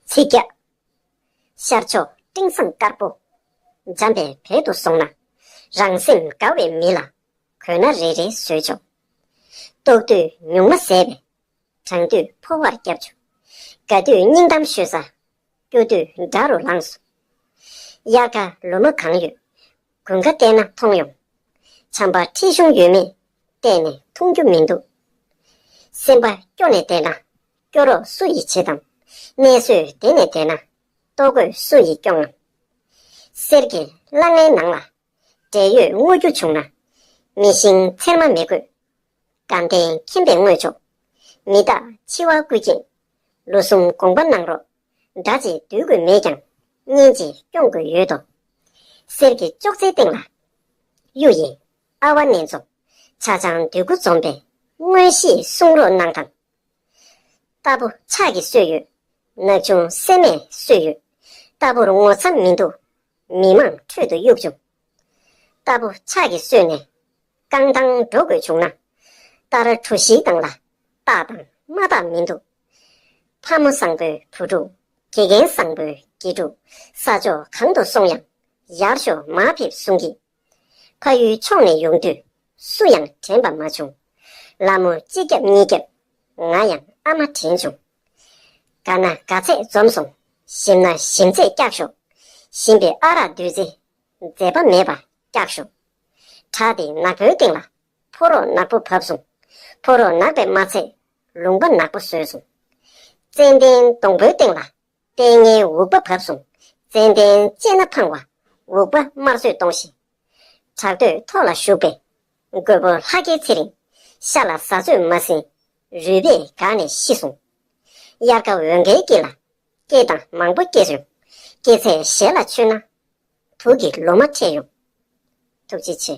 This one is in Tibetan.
ཚིག་བརྒྱ། ཤར་ཕྱོགས་སྤྲིན་བཟང་དཀར་པོ། འཇམ་པའི་བལ་དུ་སོང་ན། རང་སེམས་དགའ་བའི་མི་ལ། གོས་སྣ་རེ་རེ་བཟོས་བྱུང། ལྟོགས་དུས་ཉུང་མ་ཟས་པས། གྲང་དུས་ཕོ་བར་བརྒྱབ་བྱུང། དགའ་དུས་སྙིང་གཏམ་ཤོད་ས། སྐྱོ་དུས་དགྲ་རུ་ལངས་སོང། དབྱར་ཁ་ལུ་མ་གང་ཡོད། དགུན་ཁ་བལྟས་ན་མཐོང་ཡོང། བྱམས་པ་ཁྲི་གཞུང་ཡོད་མེད་བལྟས་ནས་མཐོང་རྒྱུ་མི་འདུག། སེམས་པ་སྐྱོ་ནས་བལྟས་ན་སྐྱོ་རོགས་སུ་ཡིས་བྱེད་དམ། གནས་བཟོད་བདེ་ནས་བལྟས་ན་ལྟོ་གོས་སུ་ཡིས་སྐྱོང་ངམ། གསེར་གྱི་སླ་ངའི་ནང་ལ་འབྲས་ཡོས་བརྔོ་རྒྱུ་བྱུང་ན། མི་བཞིན་ཚེར་མ་མི་དགོས། དགའ་ལྡན་མཁྱེན་པས་བརྔོས་ཆོག། མི་རྟག་འཆི་བ་རྐུས་སྐྱེས། ལོ་གསུམ་དགོངས་པ་གནང་རོགས། སྒྲ་གཅིག་བསྡུས་དགོས་མེད་ཀྱང། སྙན་གཅིག་སྐྱོང་དགོས་ཡོད་དོ། གསེར་གྱི་ཅོག་ཙེའི་སྟེང་ལ། གཡུ་ཡི་ཨ་བ་ནེ་ཛོ། ཆ་ཆང་འདོད་དགུ་འཛོམས་པའི། དངོས་གཞིའི་གསུང་རོགས་གནང་དང། རྟ་ཕོ་ཕྱག་གིས་གསོས་ཡོད། ནག་ཆུང་སྲན་མས་གསོས་ཡོད། རྟ་ཕོར་ངོ་ཚ་མི་འདུག། མི་མང་ཁྲོད་དུ་གཡུག་བྱུང། རྟ་ཕོ་ཕྱག་གིས་གསོས་ནས། རྐང་ཐང་འགྲོ་དགོས་བྱུང་ན། རྟ་ར་གྲུ་བཞིའི་སྟེང་ལ། རྟགས་དང་མ་རྟགས་མི་འདུག། ལྷ་མོ་བཟང་པོའི་བུ་ཕྲུག་དགེ་རྒན་བཟང་པོའི་དགེ་ཕྲུག་ས་ཕྱོགས་གང་དུ་སོང་ཡང་ཡར་ཞོ་མ་ཕེབས་གསུང་གི། ཕ་ཡུལ་ཕྱོགས་ནས་ཡོང་དུས་སུ་ཡང་དྲན་པ་མ་བྱུང། ལ་མོ་གཅིག་བརྒྱབ་གཉིས་བརྒྱབ་ང་ཡང་ཨ་མ་དྲན་བྱུང། དགའ་ན་དགའ་ཚད་འཛོམས་སོང་ཞིམ་ན་ཞིམ་ཚད་སྐྱག་ཞོ་ཞིམ་པའི་ཨ་རག་བདུད་རྩི་མཛེས་པ་མེད་པ་སྐྱག་ཞོ། དྲག་སྟེ་ནག་པོའི་སྟེང་ལ་ཕོ་རོག་ནག་པོ་བབས་སོང་ཕོ་རོག་ནག་པས་མ་ཚད་ལུང་པ་ནག་པོ་ཟོས་སོང། ཙནྡན་སྡོང་པོའི་སྟེང་ལ། ལྟས་ངན་འུག་པ་བབས་སོང། ཙནྡན་ལྕེ་སྣ་འཕངས་བ། འུག་པ་དམར་གསོད་གཏོང་བཞིན། བྲག་སྟོད་ཐོག་ལ་བཞུགས་པའི། རྒོད་པོ་ལྷ་སྐལ་ཚེ་རིང། ཤ་ལ་ཟ་ཟོས་མ་ཟིན། རུས་པས་བགགས་ནས་ཤི་སོང། དབྱར་ཁ་འོད་འགའི་དཀྱིལ་ལ། སྐྱེས་དང་མང་པོ་སྐྱེས་ཡོང། སྐྱེས་ཚད་ཞལ་ལ་མཆོད་ན། དུག་གི་ལོ་མ་འཕྲད་ཡོང། ཐུགས་རྗེ་ཆེ།